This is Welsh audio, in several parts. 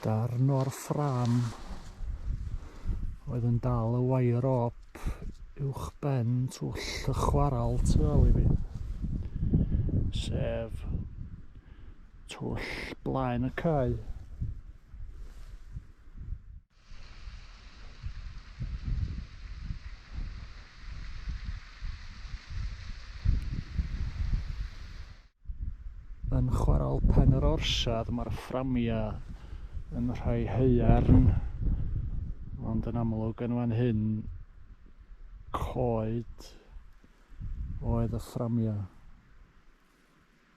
Darn o'r ffram oedd yn dal y wair op uwch ben twll y chwaral tu ôl i fi. Sef twll blaen y cae. Yn chwarel Pen yr Orsedd mae'r fframiau yn rhai haearn ond yn amlwg yn fan hyn coed oedd y fframiau.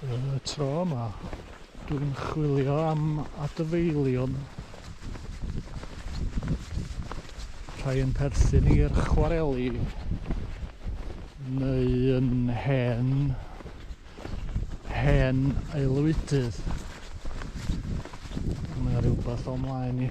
Yn y tro yma, dwi'n chwilio am adfeilion. Rhai yn perthyn i'r chwareli neu yn hen hen aelwydydd. Mae yna rhywbeth o'n mlaen i.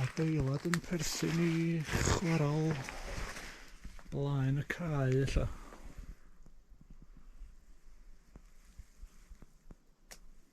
adeilad yn perthyn i chwarael blaen y cae ella.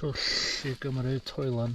twll i gymryd toilan.